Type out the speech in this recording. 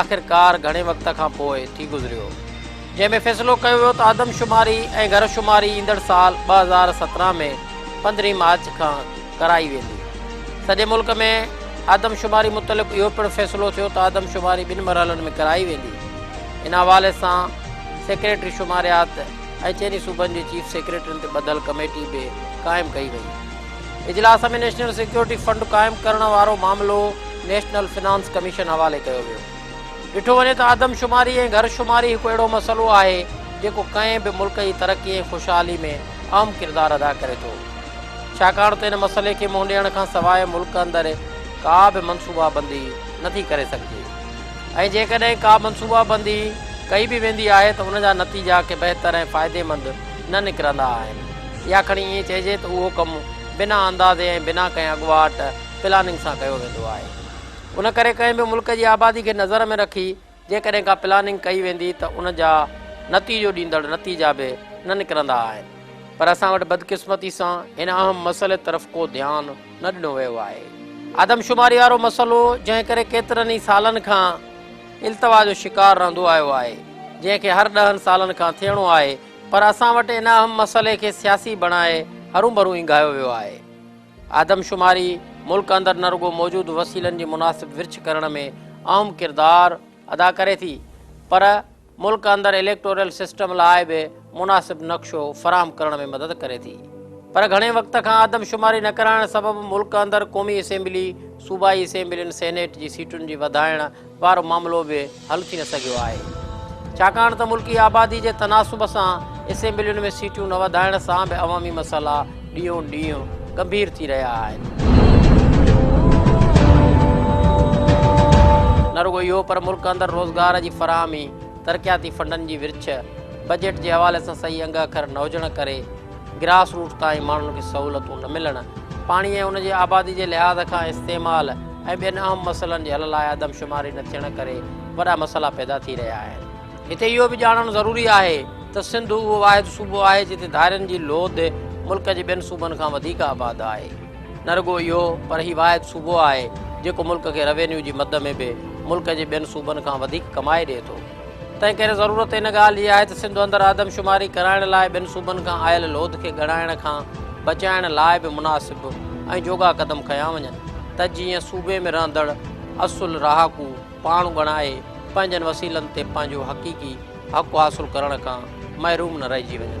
آخرڪار گهڻي وقت کان پوء ٿي گذريو جنهن ۾ فيصلو ڪيو ويو ته آدم شماري ۽ گهر شماري ايندڙ سال ٻه هزار سترهن ۾ پندرهين مارچ کان ڪرائي ويندي سڄي ملڪ ۾ آدم شماري متعلق اهو پڻ فيصلو ٿيو ته آدم شماري ٻن مرحلن ۾ ڪرائي ويندي ان حوالي سان سيڪريٽري شماريات ۽ چئني صوبن جي چيف سيڪريٽرين تي ٻڌل ڪميٽي به قائم ڪئي وئي اجلاس ۾ نيشنل سيڪيورٽي فنڊ قائم ڪرڻ وارو معاملو نيشنل فنانس ڪميشن حوالي ڪيو ويو. ڏٺو وڃي ته آدمشماري ۽ گهر شماري هڪ اهڙو مسئلو آهي جيڪو ڪنهن به ملڪ جي ترقي ۽ خوشحالي ۾ اهم ڪردار ادا ڪري ٿو ڇاڪاڻ ته ان مسئلي کي منهن ڏيڻ کان سواء ملڪ اندر ڪا به منصوبا بندي نٿي ڪري سگهجي ۽ جيڪڏهن ڪا منصوبا بندي ڪئي به ويندي آهي ته ان جا نتيجا ڪي بهتر ۽ فائديمند نه نڪرندا آهن يا کڻي ائين چئجي ته اهو ڪم بنا اندازي ۽ بنا ڪنهن اڳواٽ پلاننگ سان ڪيو ويندو آهي. ان ڪري ڪنهن به ملڪ جي آبادي کي نظر ۾ رکي جيڪڏهن ڪا پلاننگ ڪئي ويندي ته ان جا نتيجو ڏيندڙ نتيجا به نه نڪرندا آهن پر اسان وٽ بدقسمتي سان هن اهم مسئلي طرف ڪو ڌيان نه ڏنو ويو آهي. آدمشماري وارو مسئلو جنهن ڪري ڪيترن ئي سالن کان. التوا جو شڪار رهندو آيو آهي، جنهن کي هر ڏهن سالن کان ٿيڻو آهي، پر اسان وٽ ان اهم مسئلي کي سياسي بڻائي هروڀرو اينگهايو ويو آهي. آدمشماري ملڪ اندر نه رڳو موجود وسيلن جي مناسب ورڇ ڪرڻ ۾ اهم ڪردار ادا ڪري ٿي، پر ملڪ اندر اليڪٽورل سسٽم لاء به مناسب نقشو فراهم ڪرڻ ۾ مدد ڪري ٿي. پر گهڻي وقت کان آدمشماري نه ڪرائڻ سبب ملڪ اندر قومي اسيمبلي، صوبائي اسيمبلين، سينيٽ جي سيٽن جي وڌائڻ، وارو معاملو به حل ٿي نه سگهيو آهي ڇاڪاڻ ته ملڪي آبادي جي تناسب سان اسيمبلين ۾ سيٽون نه وڌائڻ سان به عوامي مسئلا ڏينهون ڏينهن گنڀير ٿي رهيا آهن نه رڳو اهو پر ملڪ اندر روزگار جي فراهمي ترقياتي فنڊن جي ورڇ بجيٽ جي حوالي سان صحيح انگ اکر نه هجڻ ڪري گراس روٽ تائين ماڻهن کي سهولتون نه ملڻ، پاڻي ۽ ان جي آبادي جي لحاظ کان استعمال ۽ ٻين اهم مسئلن جي حل لاء آدمشماري نه ٿيڻ ڪري وڏا مسئلا پيدا ٿي رهيا آهن. هتي اهو به ڄاڻڻ ضروري آهي ته سنڌ اهو واحد صوبو آهي جتي ڌارين جي لوڌ ملڪ جي ٻين صوبن کان وڌيڪ آباد آهي. نه رڳو اهو پر هي واحد صوبو آهي جيڪو ملڪ کي روينيو جي مد ۾ به ملڪ جي ٻين صوبن کان وڌيڪ ڪمائي ڏئي ٿو. تنهن ڪري ضرورت ان ڳالهه جي آهي ته سنڌ اندر آدم شماري ڪرائڻ لاء ٻين صوبن کان آيل لوڌ کي ڳڻائڻ کان بچائڻ لاء به مناسب ۽ جوڳا قدم کنيا وڃن ته جيئن صوبي ۾ رهندڙ اصل رهاڪو پاڻ ڳڻائي پنهنجن وسيلن تي پنهنجو حقيقي حق حاصل ڪرڻ کان محروم نه رهجي وڃن.